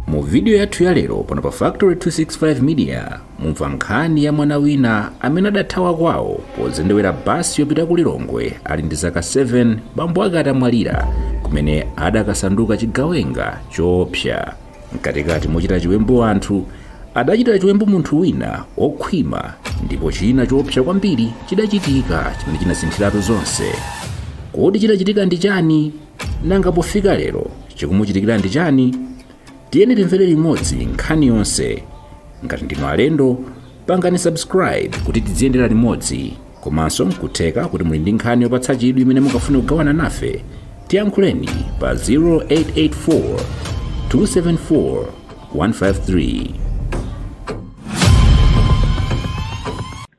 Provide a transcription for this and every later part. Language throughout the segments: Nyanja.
mu vidiyo yathu ya lero pano pa factory 265 media mumva nkhani ya mwana wina amene adathawa kwawo pozendewera basi yopita ku lilongwe ali ndi zaka 7 bambo ake atamwalira kumene adakasanduka chigawenga choopsa mkatikati mochita chiwembu anthu adachita chiwembu munthu wina okhwima ndipo china choopsa kwambiri chidachitika chimene chinasinthiratu zonse kodi chidachitika ndi chani nanga pofika lero chikumuchitikira ndi chani tiyeni timvere limodzi nkhani yonse ngati ndinu alendo pangani subscribe kuti tiziyendera limodzi komanso nkutheka kuti muli ndi nkhani yopatsa chidwi imene mukafune kugawana nafe tiyankhuleni pa 0884 274 153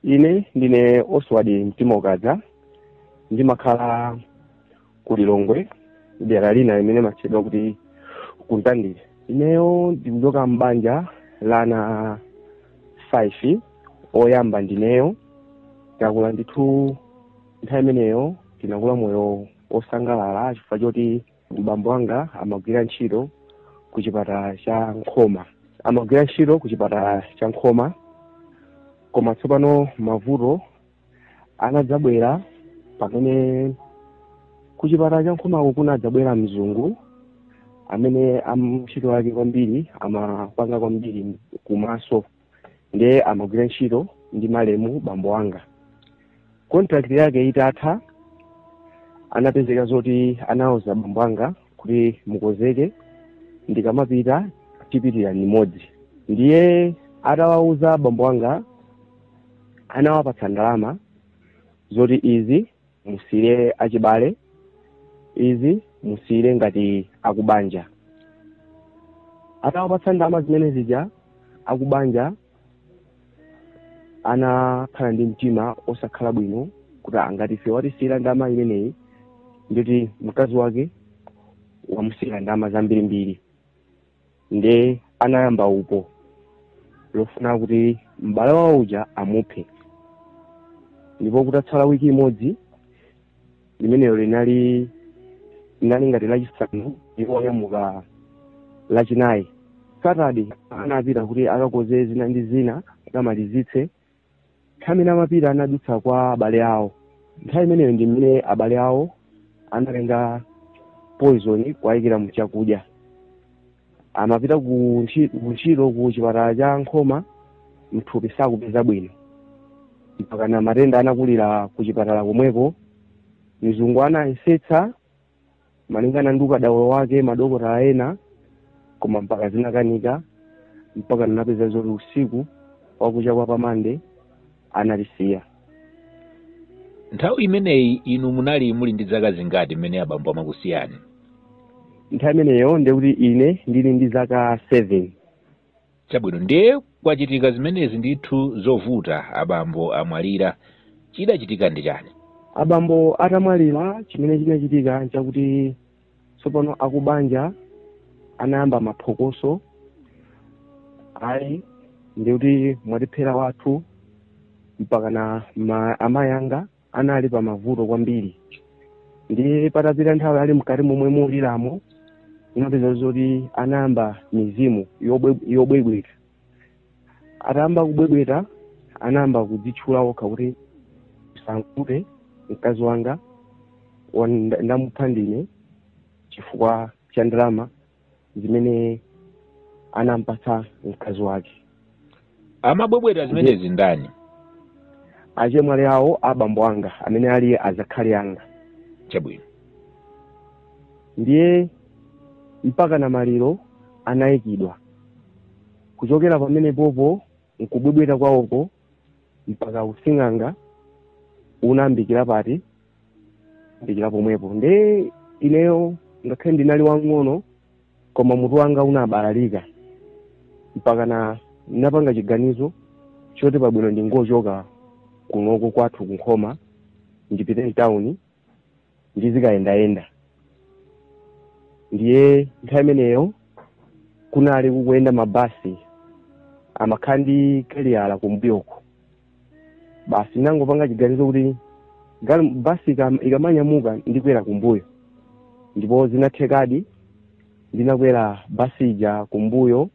ine ndine oswald mtimaukadza ndimakhala ku lilongwe dera lina limene limatchedwa kuti ku mtandire ineyo ndikuchoka m'banja la ana 5 oyamba ndineyo takula ndithu nthawi imeneyo tinakula moyo osangalala chifukwa choti mbambo wanga amagwira ntchito ku chipatala cha nkhoma amagwira ntchito ku chipatala cha nkhoma koma tsopano mavuto anadzabwera pamene kuchipatala cha nkhumako kunadzabwera mzungu amene amntchito yake kwambiri amapanga kwambiri kumaso ndiye amagwira ntchito ndi malemu bambo wanga contract yake itatha anapezeka zoti anawauza bambo wanga kuti mukozeke ndikamapita tipitira limodzi ndiye atawauza bambo wanga anawapatsa ndalama zoti izi musiyire achibale izi musiyire ngati akubanja atawapatsa ndalama zimene zija akubanja anakhala ndi mtima osakhala bwino kuti a ngati ife watisiyira ndalama imeneyi ndiye kuti mkazi wake wamusiyira ndalama zambirimbiri nde anayamba upo lofuna kuti m'bale wawo uja amuphe ndipo kutatsala wiki imodzi limenelo linali linali ngati lachisanu ndipo onyamuka lachinayi satade anapita kuti akakoze zina ndi zina akamalizitse nthawi imene amapita anadutsa kwa abale awo nthawi imeneyo ndi mmene abale awo anatenga poison kuwayikira mu chakudya amapita ku ntchi- ku ntchito ku chipatala cha nkhoma mthupi sakupeza bwino mpakana matenda anakulira ku chipatala komweko mzungu anayesetsa malingana ndi ukadaulo wake madokotala ena koma mpaka zinakanika mpaka napeza zoti usiku wakucha kwa pamande analisiya nthawi imeneyi inu munali muli ndi zaka zingati mmene abambo amakusiyani nthawi imeneyo ndekuti ine ndili ndi zaka 7 Chabwino, ndiye kwachitika zimenezi ndithu zovuta, abambo amwalira. Chidachitika ndi chani? Abambo atamwalira, chimene chinachitika nchakuti tsopano akubanja anayamba maphokoso, ayi ndikuti mwatiphera wathu mpakana na amayi anga anali pa mavuto kwambiri ndiye patapita nthawi ali mkati momwe muliramo inapeza zoti anayamba mizimu yobwebweta atayamba kubwebweta anayamba kudzitchula okha kuti musavute mkazi wanga ndamupha ndine chifukwa cha ndalama zimene anampatsa mkazi wake amabwebweta zimenezi ndani achemwali awo a bambo anga amene ali azakhali anga chabwino ndiye mpaka na maliro anayikidwa kuchokera pamenepopo nkubwebweta kwawoko mpaka using'anga unambikira pati mbikira pomwepo nde ineyo ngakhale ndinali wang'ono koma mutu wanga unabalalika mpaka na napanga chiganizo choti pabwino ndingochoka kunoko kwathu kunkhoma ndipite mtawuni ndizikayendayenda ndiye nthawi imeneyo kunali kukuyenda mabasi amakhala ndi kaliyala kumbuyoko basi nangopanga chiganizo kuti basi ikamanyamuka ndikwera kumbuyo ndipo zinathekadi ndinakwera basi ija kumbuyo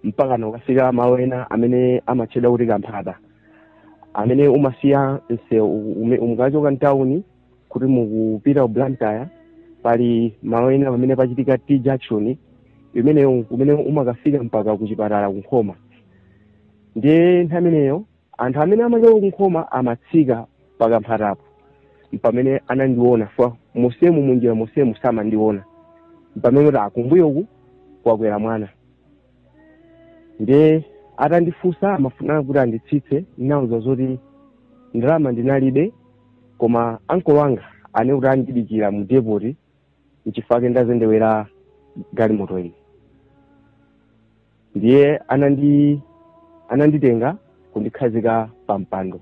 mpaka nokafika malo ena amene amatchedwa kuti kamphata amene umasiya u- mukachoka mtawuni kuti mukupita ku blantyre pali malo ena pamene pachitika t junction imene kumene umakafika mpaka ku chipatala kunkhoma ndiye nthawi imeneyo anthu amene amachoka kunkhoma amatsika pakamphatapo mpamene anandiona fa musemu munjira musemu samandiona mpamene kuti akumbuyoku kwakwera mwana ndiye atandifunsa amafuna kuti anditsitse ndinawauza zoti ndalama ndinalibe koma ankolo anga ane kuti andidikira mu depoti nchifukwa chake ndazendewera galimoto iyi ndiye anandi ananditenga kundikhazika pa mpando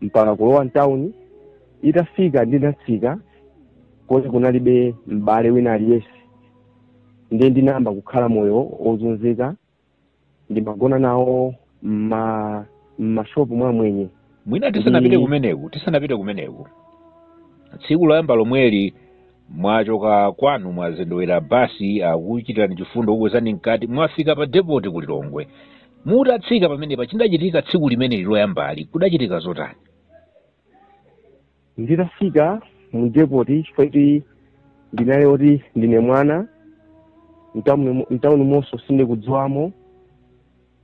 mpaka kulowa mtawuni itafika ndinatsika koma kunalibe m'bale wina aliyense ndiye ndinayamba kukhala moyo wozunzika ndimagona nawo mma mmashopu mwa amwenye mwina tisanapite kumeneku tisanapite kumeneku tsiku loyamba lomweli mwachoka kwanu mwazendewera basi akuchitirani chifundo kukwezani mkati mwafika pa depoti ku lilongwe mutatsika pamenepa chidachitika tsiku limeneli loyambali kudachitika zotani nditafika mu depoti chifukwa kuti ndinali oti ndine mwana mtauni monso sindikudziwamo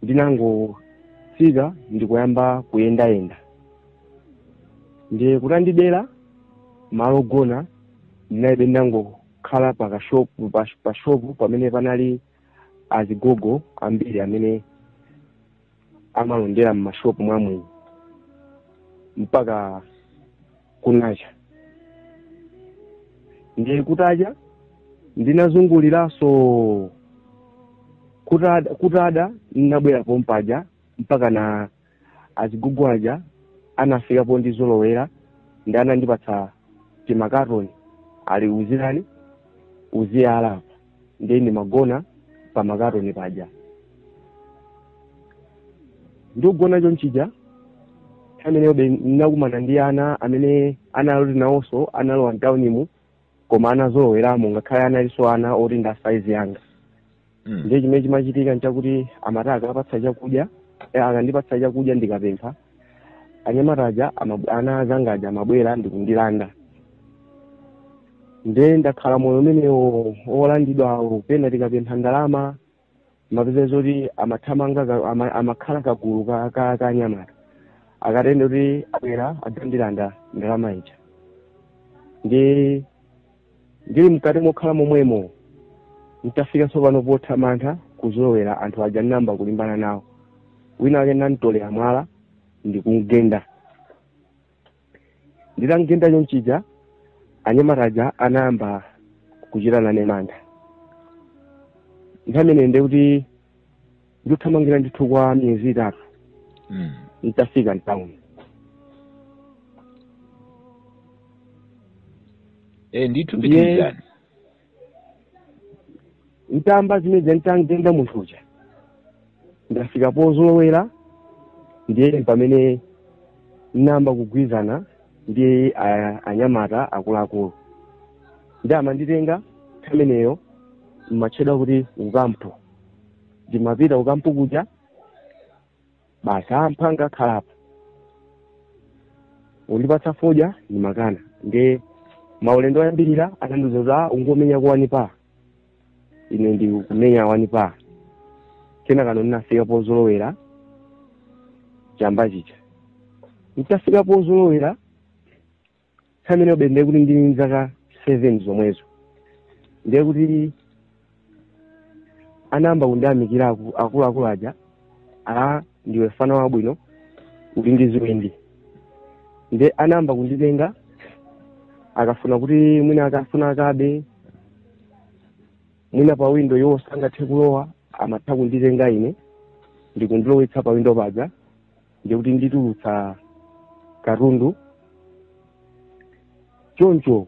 ndinangofika ndikuyamba kuyendayenda ndiye kutandidera malo ogona ndinalibe ndinangokhala pa kashopu pa- pa shopu pamene panali azigogo ambiri amene amalondera m'mashopu mwa amwenye mpaka kunacha ndiye kutacha ndinazunguliranso kutada, kutada ndinabwera pompaja mpaka na azigogo aja anafika pondizolowera ndi anandipatsa timakatoni ali muziyala uziyala apa ndiye ndimagona pa makatoni paja ndikugona chonchija ameneyobe ndinakumana ndi ana amene anali oti nawonso analowa mtaunimu koma anazoloweramo ngakhale analinso ana oti ndi a saizi yanga Mm. ndiye chimene chimachitika nchakuti amati akapatsa chakudya eh, akandipatsa chakudya ndikapempha anyamata aja ama- ana azanga aja amabwera ndikundilanda nde ndakhala moyo umenewo olandidwawo pena tikapempha ndalama umapeza zoti amathamanga ka- ama- amakhala kagulu ka- ka ka anyamata akatere ndekuti abwera adzandilanda ndalama ija ndi Ndili mkati mokhala momwemo, n'tafika tsopano potha mantha kuzolowera anthu aja n'nayamba kulimbana nawo, wina wake n'nam'tolera mwala ndi kum'genda. Nditam'genda chonchija, anyamata aja anayamba kuchita nane mantha. Nthawi imeneyi ndiye kuti ndikuthamangira ndithu kwa miyezi itatu Mm. nditafika mtawuni Eh, ndithu Ndiye- pitilizani ntayamba zimene ndikangenda munthu uja ndafika pozolowera ndiye pamene namba kugwirizana ndi a- anyamata akuluakulu ndiye amanditenga ameneyo mmatchedwa kuti kukampu ndimapita kukampu kuja basi a mphwanga khalapo undipatsa fodya ndimakana ndiye maulendo oyambirira amandiuza a ungomenya kuwanipa ine ndikumenya wanipa kenakano ndinafika pozolowera chamba chija nditafika pozolowera nthawi imeneyo be ndiye kuti ndili ndi zaka seven zomwezo ndiye kuti anayamba kundiyamikira aku- akuluakulu aja a ndiwe mfana wabwino uli ndi chiwindi nde anayamba kunditenga akafuna kuti mwina akafuna akabe mwina pa windo iwo sangathe kulowa amatha kunditenga ine ndikundilowetsa pa windo paja ndiye kuti nditulutse katundu choncho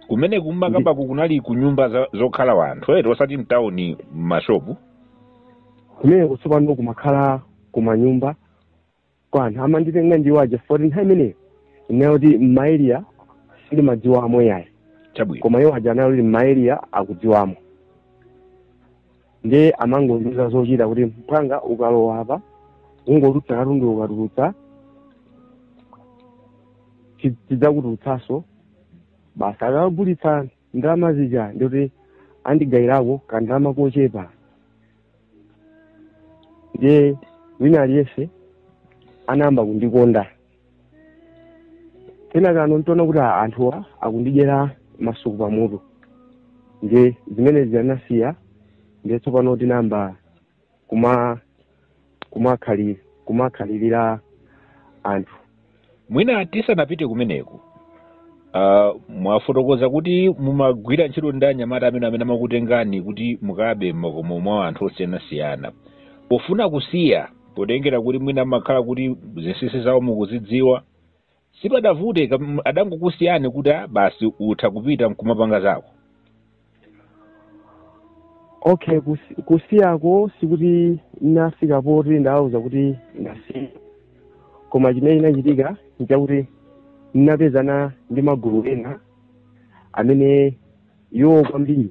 kumene kumakabako kunali ku nyumba za- zokhala wanthu eti osati mtawuni m'mashopu kumeneko tsopano kumakhala kumanyumba kwa anthu amanditenga ndiwo aja poti nthawi imeneyo ineyo kuti mmaeliya sindimadziwamo yayi chabwino koma iwo aja anali mmaeliya akudziwamo ndiye amangondiuza zochita kuti mphwanga ukalowa apa ungotulutsa katundu ukatulutsa ti- tidzakutulutsanso basi akagulitsa ndalama zija nde kuti andigayirako kandalama kochepa ndiye wina aliyense anayamba kundikonda kenakano nditaona kuti a- anthuwa akundidyera masuku pamutu nde zimene zija ndinasiya nde tsopano tinayamba kuma kumakhali kumakhalirira anthu mwina tisanapite kumeneku uh, mwafotokoza kuti mumagwira ntchito ndi anyamata amene amene amakutengani kuti mukabe m'makomo mwa anthu osiyanasiyana pofuna kusiya potengera kuti mwina amakhala kuti zinsinsi zawo mukuzidziwa sipamavuta kam- adangokusiyani kuti "Ah, basi utha kupita nkumapanga zako okay kusi- kusiyako sikuti nafika poti ndawauza kuti ndasiya koma chimene chinachitika nchakuti ndinapezana ndi magulu ena amene iwo kwambiri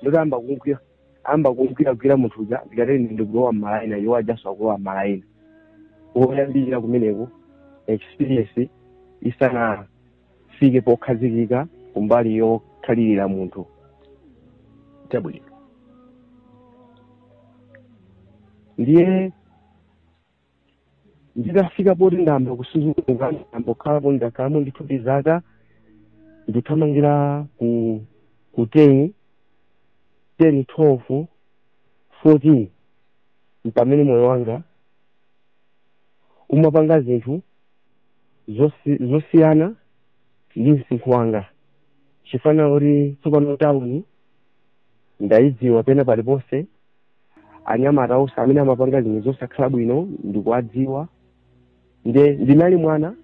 nde utayamba kumgwira ayamba kumgwira gwira munthu uja ndikatere ndikulowa mmalaina iwo ajanso akulowa mmalaina woyambirira kumeneko experience isanafike pokhazikika kumbali yokhalirira munthu chabwino ndiye nditafika poti ndayamba kumasuka ndayamba kukhalapo ndakhalamo ndithu zaka ndithamangira ku ku 10 10 12 14 mpamene moyo wanga umapanga zinthu zosi- zosiyana ndi msinkhu wanga chifukwa kuti tsopano tawuni ndayidziwa pena paliponse anyamata onse amene amapanga zinthu zosakhala bwino ndikuwadziwa nde ndinali mwana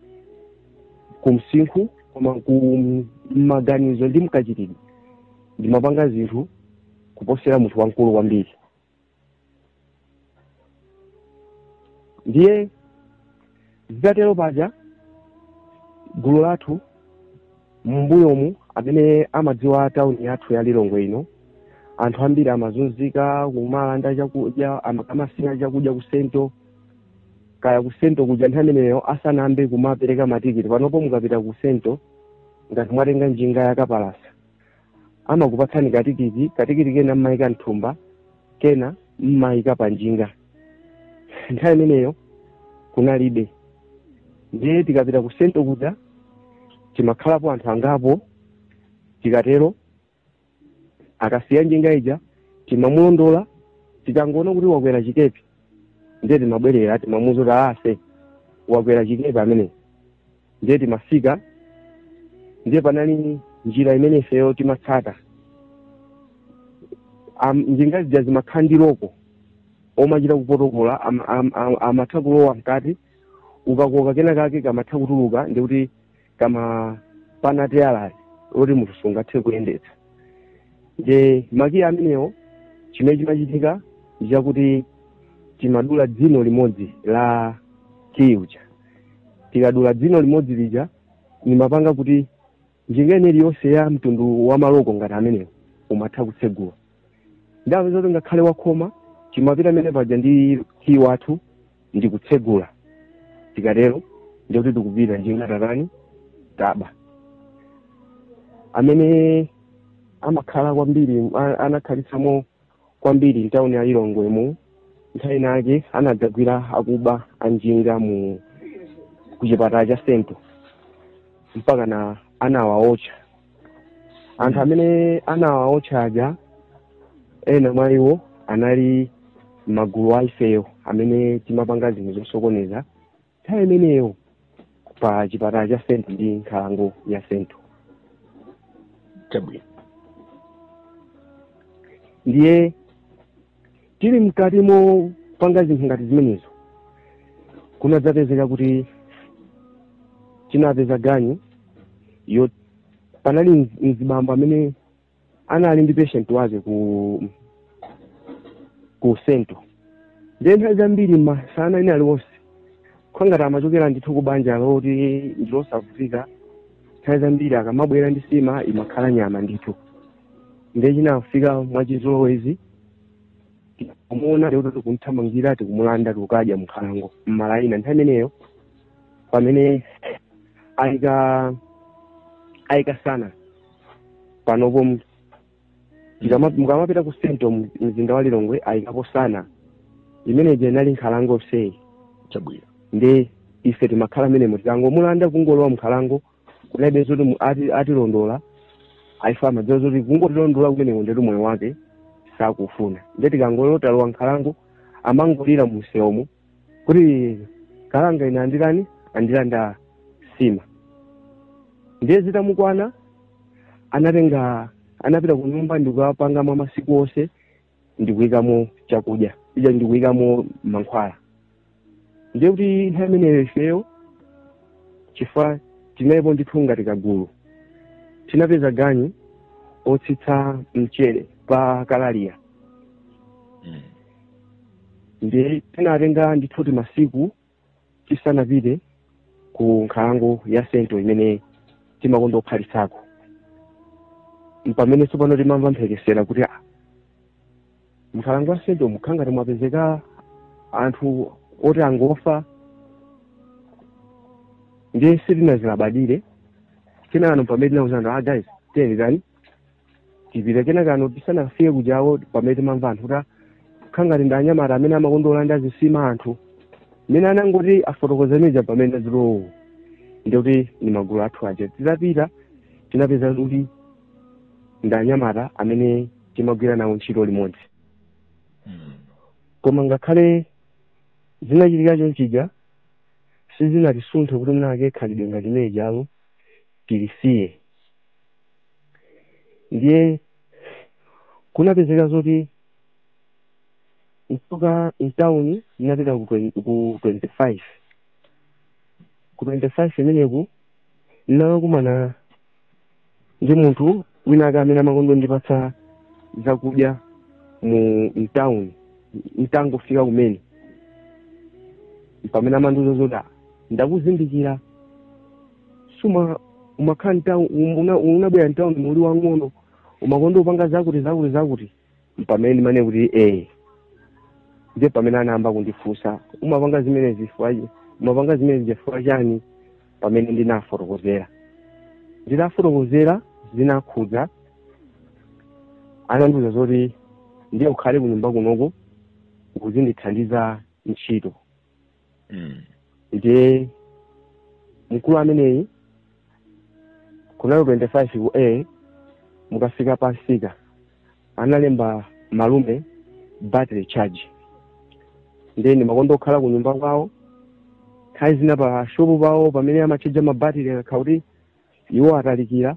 kumsinkhu koma kumaganizo ndi mkachitidwe ndimapanga zinthu kuposera munthu wamkulu kwambiri ndiye Zitatero paja gulu lathu m'mbuyomu amene amadziwa tauni yathu ya Lilongwe ino anthu ambiri amazunzika kumalanda chakudya akamasiya chakudya kusento kaya kusento kuja nthawi imeneyo asanayambe kumapereka matikiti panopo mukapita kusento ngati mwatenga njinga yakapalasa amakupatsani katikiti katikiti kena mmaika mthumba kena mmaika panjinga nthawi imeneyo kunalibe ndiye tikapita ku sento kuja timakhalapo anthu angapo tikatero akasiya njinga ija timamulondola tikangoona kuti wakwera chikepe ndiye timabwerera timamuuza kuti ase wakwera chikepe amene ndiye timafika ndiye panali njira imene ifeyo timatsata Am- njinga zija zimakhala ndi loko omachita kupotokola am- am- am- amatha kulowa mkati ukakoka kena kake kamatha kutuluka ndikuti kamapana teyala loti munthu sungathe kuyendetsa nde makiyi amenewo chimene chimachitika ndichakuti timadula dzino limodzi la kiyi uja tikadula dzino limodzi lija limapanga kuti njinga ina iliyonse ya mtundu wa maloko ngati amenewo umatha kutsegula nde zoti ngakhale wakhoma timapita amene paja ndi kiyi wathu ndi kutsegula tikatero ndikuti tikupita njinga tatani taba amene amakhala kwambiri a- anakhalitsamo kwambiri mtauni ya lilongwe mu nthawi inake anadzagwira akuba anjinga kuchipatala cha sento mpaka na anawaotcha anthu amene anawaotcha aja ena mwa iwo anali magulu a ifeyo amene timapanga zinthu zosokoneza nthawi imeneyo pa chipatala cha sento ndi nkhalango ya sento chabwino ndiye tili mkati mopanga zinthu ngati zimenezo kunadzapezeka kuti tinapeza ganyu yo panali mz- mzibambo amene anali ndi patient wake ku ku sento ndiye nthawi zambiri masana ena aliwonse kukhala ngati amachokera ndithu ku banja loti ndilosavutika nthawi zambiri akamabwera ndi sima imakhala nyama ndithu ndiye chinafika mwachizolowezi kumuona lero tikumthamangira tikumulanda tikukadya mnkhalango mmalaina nthawi imeneyo pamene ayika ayika Sana panopo mu- tikama- mukamapita ku sento mu- mzinda wa lilongwe ayikapo Sana imene ija inali nkhalango sei chabwino nde ife timakhala mmenemo tikangomulanda kungolowa mkhalango kunaibe zoti mu- ati- atilondola ayi amadziwa zoti kungotilondola kumeneko ndetu moyo wake sakufuna nde tikangoti talowa mkhalango amangolira mumsewomo kuti kalanga ine anditani andilanda sima ndiye zitamukwana anatenga anapita ku nyumba ndikukapanga mwa masiku onse ndikuyikamo chakudya ija ndikuyikamo mankhwala ndiye kuti nthawi imeneyo ifeyo chifukwa tinalipo ndithu ngati kagulu tinapeza ganyu yotsitsa mchere pa kalaliya ndiye tinatenga ndithu timasiku tisanapite ku nkhalango ya sento imene timakonda kukhalitsako mpamene tsopano timamva mphekesera kuti "Ah, mnkhalango ya sento mukukhala ngati mwapezeka anthu oti angofa ndiye sitinazilabadire kenano mpamene tinauzana ah guys tiyeni tani tipite kenakano tisanafike kujako pamene timamva anthu kuti kukhala ngati ndi anyamata amene amakonda kulanda zisima anthu mmene anangoti afotokoza muja pamene azilowo ndikuti ndi magulu athu aja titapita tinapeza kuti ndi anyamata amene timagwira nawo ntchito limodzi Mm. koma ngakhale zinachitika chonchija sizinatisunthe kuti mwinatu khalidwe ngati limene lijalo tilisiye ndiye kunapezeka zoti nkupita mtauni ndinapita ku 20 ku 25 ku 25 imeneku ndinakumana ndi munthu wina ake amene amakonda ndipatsa zakudya mu mtauni mtangofika kumene pamene amandiuza zoti "Ah, ndakuzindikira sumakhala mtauni muno- unabwera mtauni uli wang'ono umakonda upanga zakuti zakuti zakuti mpamene ndimanena kuti ee ndiye pamene anayamba kundifunsa umapanga zimenezi chifukwa chi- umapanga zimenezi chifukwa chani pamene ndinafotokozera ndinafotokozera zinakhudza anandiuza zoti ndiye ukhale kunyumba kunoko uzindithandiza ntchito mm. ndiye mkulu ameneyi kunali 25 ku a mukafika pa msika analemba malume battery charge ndiye ndimakonda kukhala ku nyumba kwawo nthawi zina pa shopu pawo pamene amatchaja mabatiri akakhala kuti iwo atalikira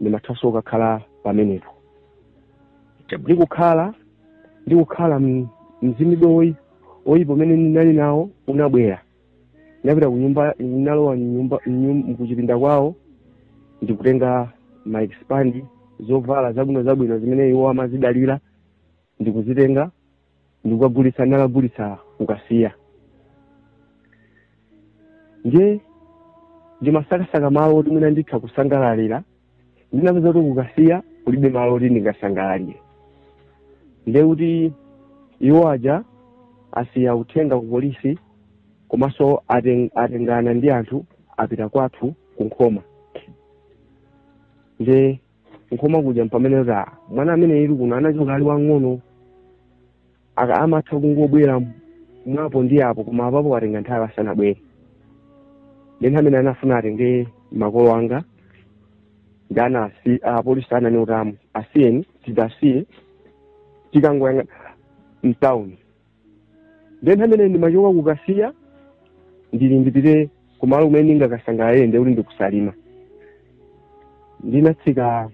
ndimathanso kukakhala pamenepo Chabwino. ndikukhala ndikukhala m- mchitidwe woyi- woyipa umene ndinali nawo unabwera ndinapita kunyumba ndinalowa mnyumba mnyum- mkuchipinda kwawo ndikutenga ma expand zovala zabwino zabwino zimene iwo amazidalira ndikuzitenga ndikukagulitsa ndakagulitsa kukasiya ndiye ndimasakasaka malo oti mwina nditha kusangalalira ndinapeza kuti kukasiya kulibe malo oti ndingasangalalire ndiye kuti iwo aja asiya uthenga ku polisi komanso aten- atengana ndi anthu apita kwathu ku nkhoma ndiye nkhoma kuja mpamene kuti ah, mwana ameneyu kuno anachoka ali wang'ono aka amatha kungobwera mwapo ndi apo koma apapo atenga nthawi asanabwere ndi nthawi imene anafuna atenge makolo anga ndi ana asi- apolisi anani utamu asiyeni tidasiya tikangoyang'ana mtawuni nde nthawi imene ndimachoka kukasiya ndili ndipite kumalo kumene ndingakasangalale ndekuti ndi ku Salima ndinatsika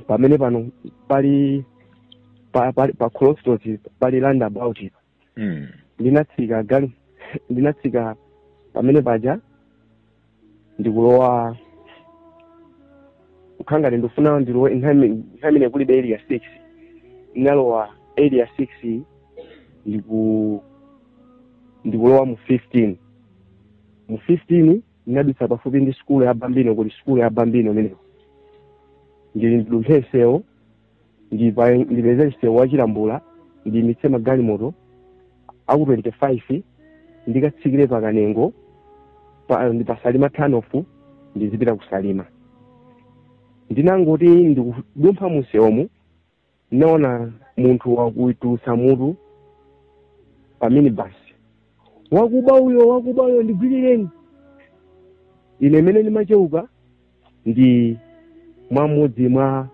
pamene pano pali pa, pa, pa crossroads pali roundabout ipa Mm. ndinatsika gali- ndinatsika pamene paja ndikulowa kukhala ngati ndikufuna ndilowe nthawi ime- nthawi imene kuli pa area six ndinalowa area six ndiku ndikulowa mu fifteen mu fifteen ndinadutsa pafupi ndi sukulu ya bambino kuli sukulu ya bambino imeneyo ndili ndidumphe msewu ndipa- ndipeze msewu wa chilambula ndiyimitse magalimoto aku 25 ndikatsikire pa kanengo pa- ndi pa salima turnoff ndizipita ku salima ndinangoti ndikudumpha musewumu ndinaona munthu akutulutsa mutu pa minibus wakuba uyo wakuba uyo ndigwirireni ine imene ndimacheuka ndi mmodzi mwa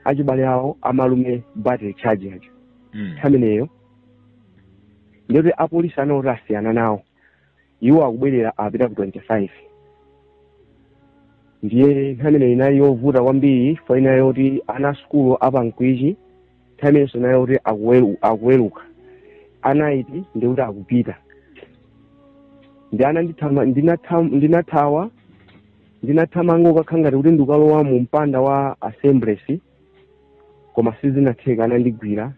achibale awo amalume battery charge aja Mm. nthawi imeneyo ndiyoti apolisi anawo kuti asiyana nawo iwo akubwerera apita ku 25 ndiye nthawi imeneyo inali yovuta kwambiri four ina yoti ana sukulu apa mkwichi nthawi imenenso inayo yoti akuwelu- akuweluka a Knight ndikuti akupita ndi ana ndithama- ndinatham- ndinathawa ndinathamanga kukhala ngati kuti ndikalowa mu mpanda wa assemblies koma sizinatheka anandigwira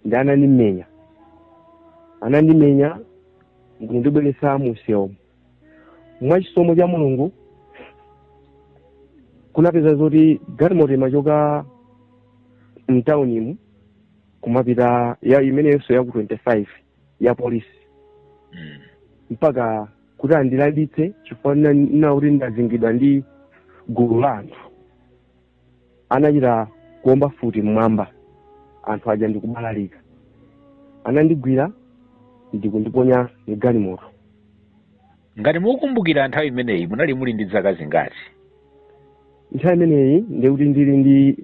ndi anandimenya anandimenya ndikundibweretsa mumsewumu mwa chisomo cha mulungu kunapezeka zoti galimoto imachoka mtaunimu kumapita ya imeneyonso yaku 25 ya polisi Mm. mpaka kuti andilanditse chifukwa nali kuti ndazingidwa ndi gulu la anthu anachita kuomba futi mmwamba anthu aja ndikubalalika anandigwira ndikundiponya mgalimoto ngati mukumbukira nthawi imeneyi munali muli ndi zaka zingati nthawi imeneyi ndikuti ndili ndi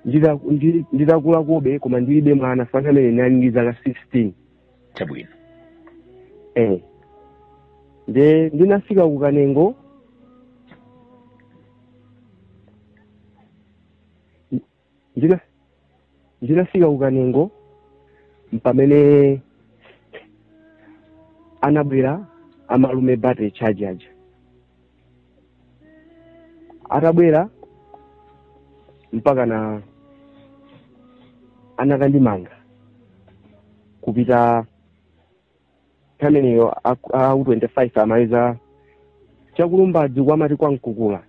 ndita- ndi- nditakulakobe koma ndilibe mwana pamene nali ndi zaka 16 chabwino eh nde ndinafika ku kanengo ndina ndinafika ku kanengo mpamene anabwera amalume battery charge aja atabwera mpakana anakandimanga kupita ameneyo aku 25 amayitcha kulumbadzi kwa amati kwa mkukula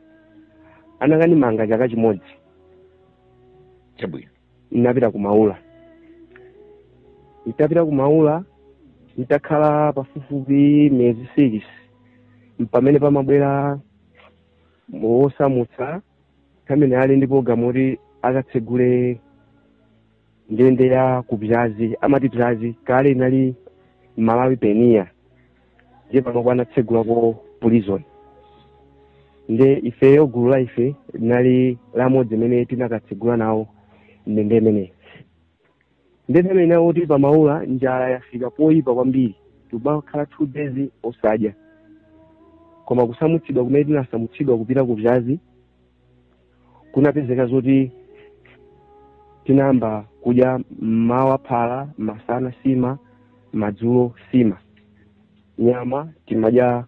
anakandimanga chaka chimodzi chabwino ndinapita ku maula nditapita ku maula nditakhala pafupifupi miyezi six mpamene pamabwera wosamutsa amene ali ndi programu yoti akatsegule ndende ya kubzyanzi amati bzyanzi kale inali malawi payoniya ndiye panopo anatsegulako prison nde ifeyo gulu la ife linali limodzi mene tinakatsegula nawo ndende imeneyi nde mmene inali kuti pamaula njala yafika poyipa kwambiri tikumakhala two days osadya koma kusamutsidwa kumene tinasamutsidwa kupita ku bzyanzi kunapezeka zoti tinayamba kudya mmawa phala masana sima madzulo sima nyama timadya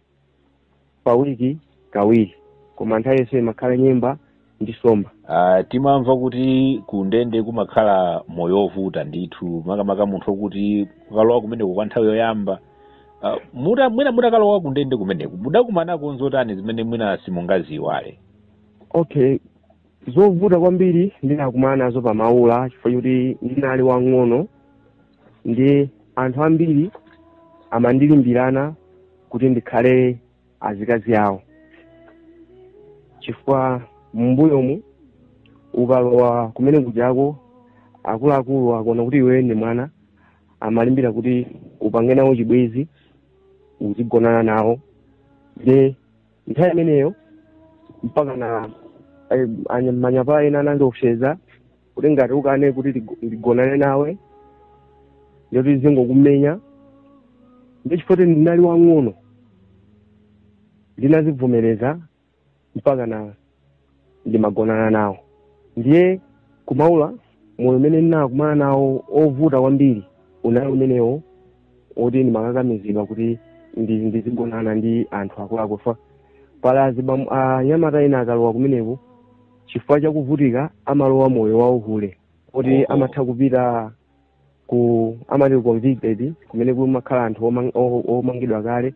pa wiki kawiri koma nthawi yonse timakhala nyemba ndi somba Ah, timamva kuti ku ndende kumakhala moyo wovuta ndithu makamaka munthu okuti ukalowa kumeneko kwa nthawi yoyamba Ah, muta- mwina mutakalowa ku ndende kumeneko mudakumanako nzotani zimene mwina simungaziwale okay zovuta kwambiri ndinakumana nazo pa maula chifukwa choti ndinali wang'ono ndi anthu ambiri amandilimbirana kuti ndikhale azikazi awo chifukwa mumbuyomu ukalowa kumene kujako akuluakulu akuona kuti iwe ndi mwana amalimbira kuti upange nawo chibwezi uzigonana nawo nde nthawi imeneyo mpaka na eh, anya- manyapala ena anandiopseza kuti ngati ukane kuti tigo- ndigonane nawe nde tizingokumenya nde chifukwa choti ndinali wang'ono ndinazivomereza mpaka na ndimagonana nawo ndiye kumaula moyo umene ndinakumana nawo ovuta kwambiri unali umenewo woti ndimakakamizidwa kuti ndi- ndizigonana ndi anthu akuluakulu fa pali azibam- anyamata ena akalowa kumeneko chifukwa chakuvutika amalowa moyo wauhule oti amatha kupita ku amati ku convicted kumene kumakhala anthu omang- o- omangidwa kale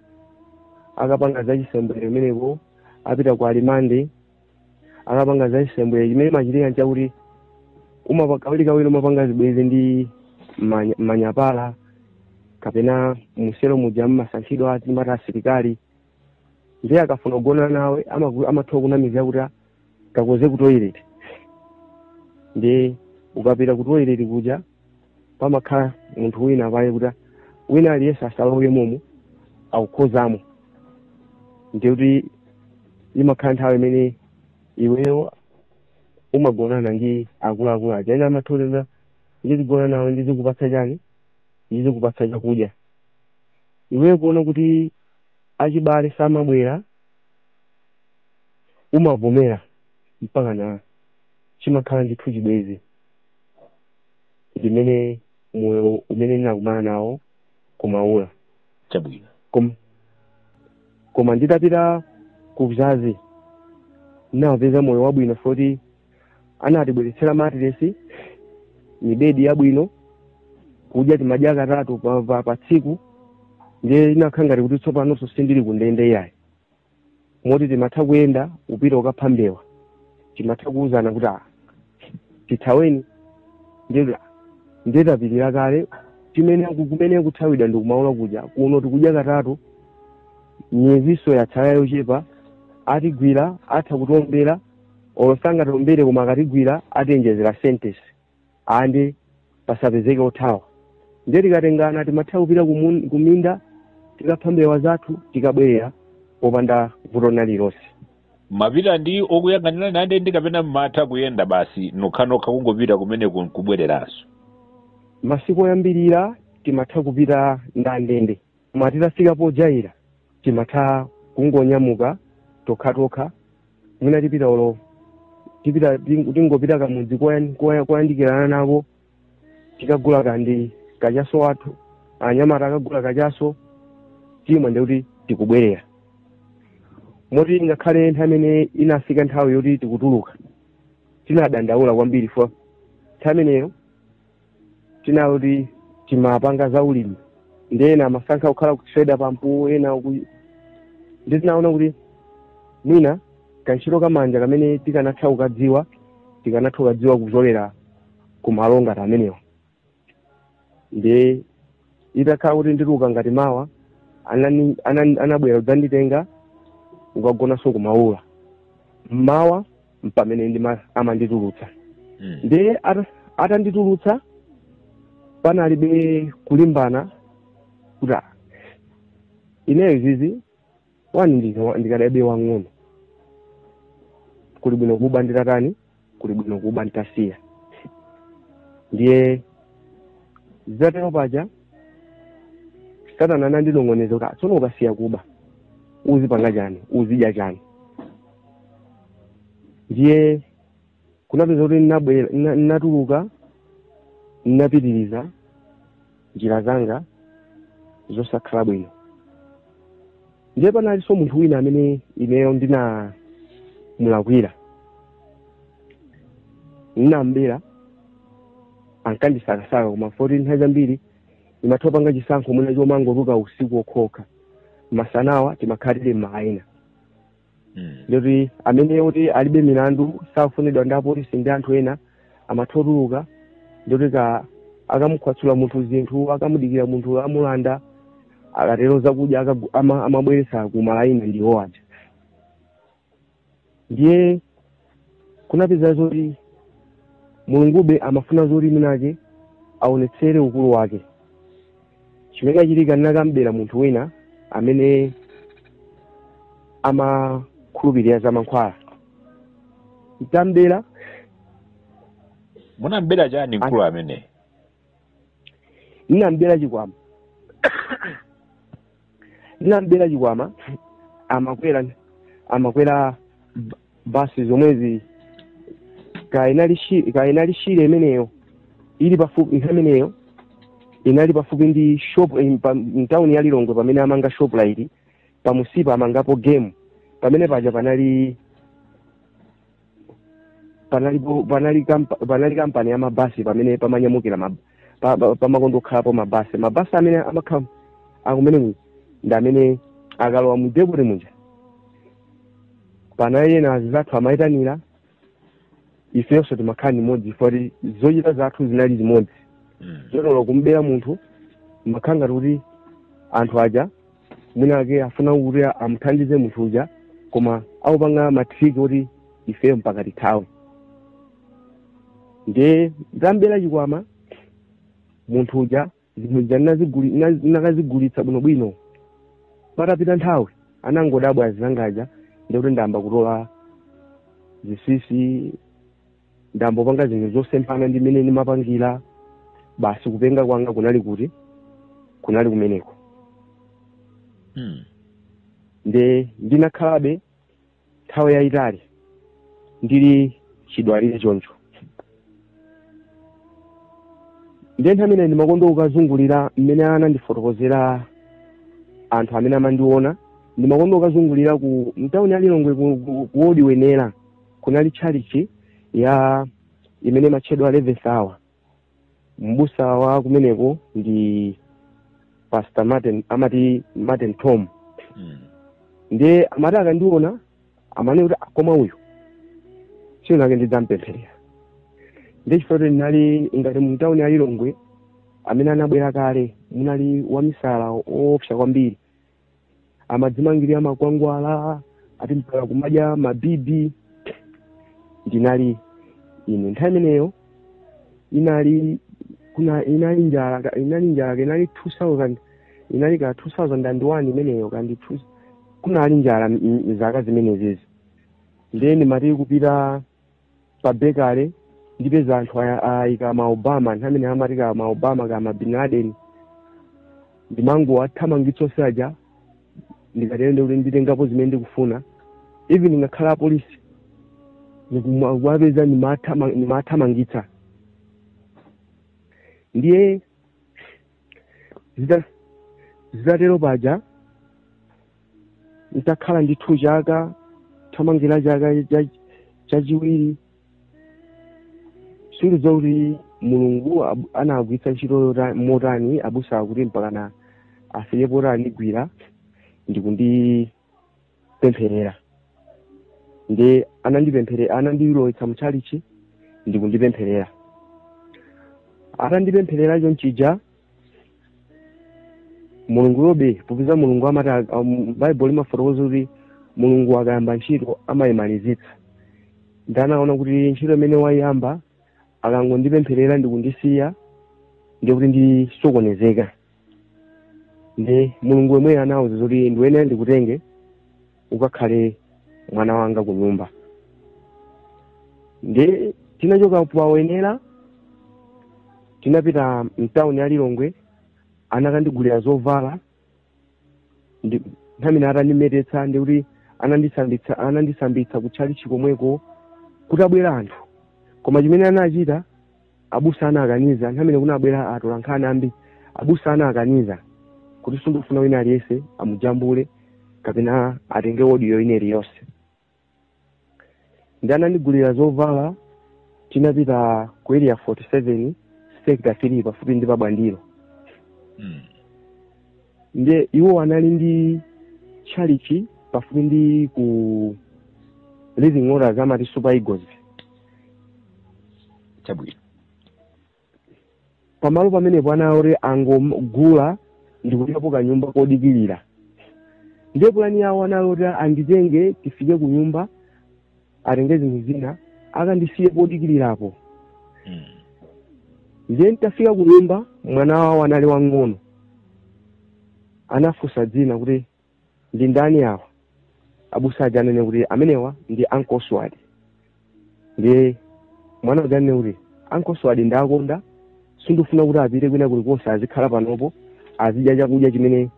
akapanga za chisembwere kumeneko akapita ku alimande akapanga za chisembwere chimene chimachitika nchakuti umapa- kawirikawiri umapanga zibwezi ndi manya- manyapala kapena muselo muja mmasankhidwa timati asilikali ndiye akafuna kugona nawe amaku- amatha kunamiza kuti kakoze ku toilet ndiye ukapita ku toilet kuja pamakhala munthu wina pale kuti wina aliyense asalowe momo akukhozamo ndiye kuti imakhala nthawi imene iweyo umagonana ndi akuluakulu aja ena amathena ndizigona nawe ndizikupatsa chani ndizikupatsa chakudya iweyo kuona kuti achibale samabwera umavomera mpakana chimakhala ndithu chibwezi ndiye moyo umene ndinakumana nawo kumaula chabwino koma, koma nditapita ku bzazi ndinapeza moyo wabwino moti anatibweretsera matiresi mibedi yabwino kudya timadya katatu pa, pa, pa tsiku ndiye inakhala ngati kuti tsopanonso sindili ku ndende yayi moti timatha kuyenda kupita kukapha mbewa timatha kuwuzana kuti ah, tithaweni ndiye tapilira kale timene kumene kuthawidwa ndi kumaula kudya kuno tikudya katatu miyezinso yatsala yochepa atigwira atha kutiombera olo sangatiombere koma akatigwira atiwonjezera sentence aa ndiye pasapezeke othawa ndiye tikatengana timatha kupita kumun- kuminda tikapha mbewa zathu tikabwerera popanda vuto lililonse mmapita ndi okuyang'anira ndende kapena mmatha kuyenda basi nokhanokha kungopita kumeneko nkubwereranso masiku oyambirira timatha kupita ndi andende koma titafika pojaira timatha kungonyamuka tokhatokha mwina tipita olo tipita ting- tingopita kamudzi koyan- koya- koyandikirana nako tikagula kandi kachaso athu anyamata akagula kachaso timwe ndikuti tikubwerera moti ngakhale nthawi imene inafika nthawi yoti tikutuluka tinadandaula kwambiri chifukwa nthawi imeneyo tinali oti timapanga za ulimi ndi ena amasankha kukhala kutreda pampu ena uku ndiye tinaona kuti mwina kantchito kamanja kamene tikanatha kukadziwa tikanatha kukadziwa kuchokera ku malo ngati amenewa ndiye itakhala kuti ndituluka ngati mawa anani- anani- anabwera kudzanditenga kukagonanso kumaula mmawa mpamene ndima amanditulutsa Mm. ndiye ata- atanditulutsa panalibe kulimbana kuti "Ah, ineyo izizi wani ndika- ndikadabe wang'ono kuli bwino kuba nditatani kuli bwino kuba nditasiya ndiye zitatere paja satana anandinong'oneza kuti "Ah, tsono ukasiya kuba uzipanga chani uzidya chani ndiye kunapeza kuti ndinabwera- ndina- ndinatuluka ndinapitiriza njira zanga zosakhala bwino ndiye panalinso munthu wina amene ineyo ndinamulakwira ndinambera ankandisakasaka koma foti nthawi zambiri ndimatha panga chisankho mwina chomangotuluka usiku okhaokha masanawa timakhala tili m'malaini Mm. ndiye oti amene oti alibe milandu sakufunidwa ndi apolisi ndi anthu ena amatha otuluka ndikuti ka akamukhwatsula munthu zinthu akamudikira munthu amulanda akatero zakudya akagu- ama- amabweretsa ku malaini ndiwo aja ndiye kunapeza zoti mulungube amafuna zoti mwina ake aonetsere ukulu wake chimene chachitika ndinakambera munthu wina amene amakhulupirira za mankhwala nditambera munambera chani mkulu amene ndinambera chikwama ndinambera chikwama amakwera amakwera ba- basi zomwezi kaya inali Shire kaya inali Shire imeneyo ili pafupi nthawi imeneyo inali pafupi ndi shop in- pa- mtawuni ya Lilongwe pamene amanga Shoprite pamunsipa amangapo Game pamene paja panali panali bu- panali kampa- panali kampani ya mabasi pamene pamanyamukira ma- pa- pa- pamakonda okhalapo mabasi mabasi amene amakhala akumene ku- ndi amene akalowa mu depoti muja panali ena anzathu amayitanira ifenso timakhala limodzi foti zochita zathu zinali zimodzi Mm. zotolo kumbera munthu amakhala ngati kuti anthu aja mwina ake afuna kuti amuthandize munthu uja koma akupanga matriki oti ifeyo mpaka tithawe ndiye tambera chikwama munthu uja zinthu zija ndinaziguli- ndina- ndinakazigulitsa bwinobwino patapita nthawi anangodabwa anzanga aja ndikuti ndayamba kutola zitsitsi ndambopanga zinthu zosemphana ndi mmene ndimapangira basi kupenga kwanga kunali kuti kunali kumeneko Mm. nde ndinakhalabe nthawi yayitali ndili chidwalire choncho nde nthawi imene ndimakonda ukazungulira mmene anandifotokozera anthu amene amandiona ndimakonda ukazungulira ku mtawuni ya Lilongwe ku- ku- ku wodi wenera kunali tchalichi ya imene imatchedwa eleventh hour mbusa wa kumeneko ndi pastor martin amati martin tom Mm. ndiye amati akandiona amanena kuti "Ah, koma uyu tsiku linalake ndidzampempherera ndiye chifukwa chakuti ndinali ngati mumtawuni ya lilongwe amene anabwera kale munali wamisala oopsa kwambiri amadzimangirira makwangwala ati mpaka kumadya mabibi ndinali ine nthawi imeneyo inali kuna inali njala ka- inali njala ka- inali 2000 inali ka 2001 imeneyo kandi two- kunali njala m- m- zaka zimenezezi ndiye ndimati kupita pa bekale ndipeza anthu aya- ayika ma obama nthawi imene amati ka ma obama ka ma bin laden ndimangowathamangitsa onse aja ndikatero ndiye kuti nditengapo zimene ndikufuna even ngakhale apolisi ndikuma- kuwapeza ndimathama- ndimathamangitsa ndiye Zita- zitatero paja nditakhala ndithu chaka thamangira chaka cha- chachiwiri sindidziwa kuti mulungu ab- anagwiritsa ntchito yota- motani abusa aja kuti mpakana afike poti andigwira ndikundi kundipempherera ndiye anandipemphere anandilowetsa mutchalichi ndi kundipempherera atandipempherera chonchija mulungu uyobe popeza mulungu amati ak- um, baibulo limafotokoza kuti mulungu akayamba ntchito amayimalizitsa ndiye anaona kuti ntchito imene wayiyamba akangondipempherera ndikundisiya ndiye kuti ndisokonezeka ndiye mulungu yemweyo anawauza zoti ndiyenera ndikutenge ukakhale mwana wanga ku nyumba ndiye tinachoka pa wenela tinapita mtawuni ya lilongwe anakandigulira zovala ndi nthawi imene atandimetetsa ndiye kuti anandisambitsa anandisambitsa kutchalichi komweko kutabwera anthu koma chimene anachita Abusa anakaniza nthawi imene kunabwera atolankhani ambiri. Abusa anakaniza kuti sindikufuna wina aliyense amujambule kapena atenge audio ina iliyonse. Ndiye anandigulira zovala tinapita ku area 47 sector 3 pafupi ndi pa Bwandiro. Mm. Ndiye iwo anali ndi tchalichi pafupi ndi ku Living Waters amati Super Eagles. chabwino pamalo pamenepo anali oti angogula ndikulipo kanyumba kodikirira ndiye pulani yawo anali oti anditenge tifike ku nyumba atenge zinthu zina akandisiye podikirirapo Mm. ndiye nditafika ku nyumba mwana wawo anali wang'ono anafunsa dzina kuti ndi ndani awa abusa aja anene kuti amenewa ndi Uncle Swadi ndiye mwana uja anene kuti Uncle Swadi ndawakonda sindifuna kuti apite kwina kulikonse azikhala panopo azidya chakudya chimene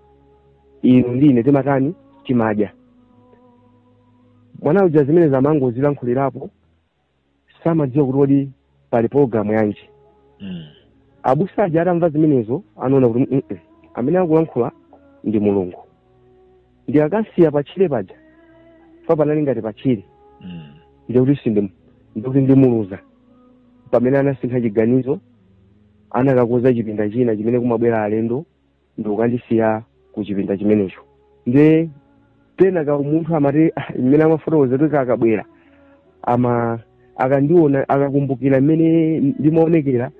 inu ndi ine timatani timadya mwana uja zimene amangozilankhulirapo samadziwa kuti kodi pali pologalamu yanji Mm. abusa aja atamva zimenezo anaona kuti "Mm, mm, amene akulankhula ndi mulungu ndikakamusiya patchire paja poti panali ngati patchire Mm. ndiye kuti sindi ndikuti ndimuluza pamene anasintha chiganizo anakakonza chipinda china chimene kumabwera alendo ndikukandisiya ku chipinda chimenecho nde pena kaumunthu amati "Ah, mmene amafotokoza kuti kakabwera ama akandiona akakumbukira mmene ndimaonekera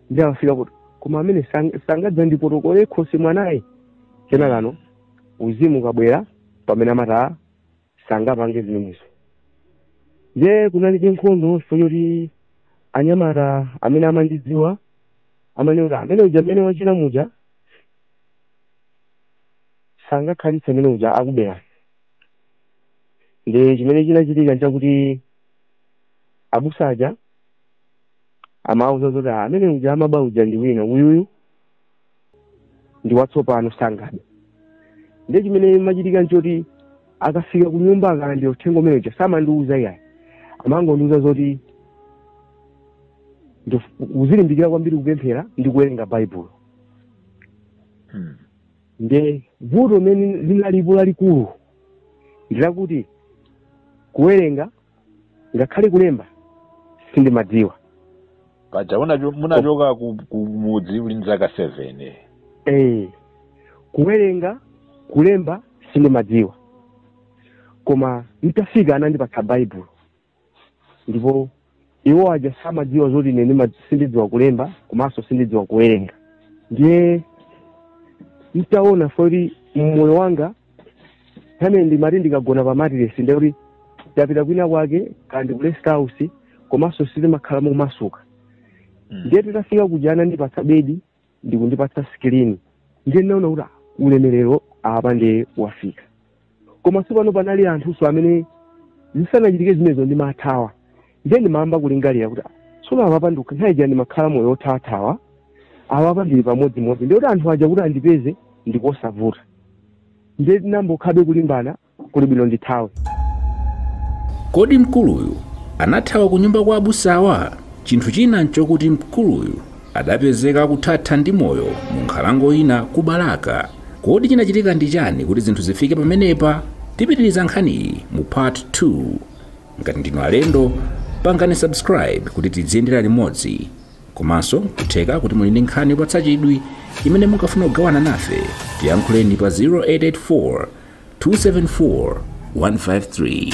ndiye amafika kuti koma amene sang- sangadzandipotokole khosi mwanayu kenakano uzimu ukabwera pamene amati "Ah, sangapange zimenezo nde kunali nkhondo choti anyamata amene amandidziwa amanena kuti amene uja mmene wachita muja sangakhalitse amene uja akubera nde chimene chinachitika nchakuti abusa aja amauza zoti "Ah, amene uja amaba uja ndi wina uyuyu ndi watsopano sangabe ndiye chimene chimachitika nchoti akafika ku nyumba akalandira uthenga umene uja samandiuza iyayi amangondiuza zoti ndif- uzilimbikira kwambiri kupemphera ndi kuwerenga baibulo Mm. nde vuto limene linalipo lalikulu ndilakuti kuwerenga ngakhale kulemba sindimadziwa paja unacho- munachoka ku- kumudzi uli ndi zaka 7 eh kuwerenga kulemba sindimadziwa koma nditafika anandipatsa baibulo ndipo iwo aja samadziwa zoti ine ndima- sindidziwa kulemba komanso sindidziwa kuwerenga ndiye nditaona zoti mmoyo wanga nthawi ndimati ndikagona pa matiresi ndiye kuti ndapita kwina kwake kaya ndi ku rest house komanso sindimakhala momasuka Mm. ndiye titafika kuja anandipatsa bedi ndikundipatsa skrini ndiye ndinaona kuti ah, ulemerero apa ndiye wafika koma tsopano panali anthunso amene zisanachitike zimenezo ndimathawa ndiye ndimayamba kulingalira kuti tsono apapa ndikukhaija ndimakhala moyo othawathawa apapa ndili pamodzimodzi ndiye kuti anthu aja kuti andipeze ndikosavuta ndiye tinambokhabe kulimbana kuli bwino ndithawe kodi mkuluyu anathawa ku nyumba kwa abusawa chinthu china nchokuti mkuluyu adapezeka akuthatha ndi moyo mu nkhalango ina ku balaka kodi chinachitika ndi chani kuti zinthu zifike pamenepa tipitiriza nkhaniyi mu part 2 ngati ndinu alendo pangani subscribe kuti tidziyendera limodzi komanso kutheka kuti muli ndi nkhani yopatsa chidwi imene mungafuna kugawana nafe tiyankhuleni pa 0884 274 153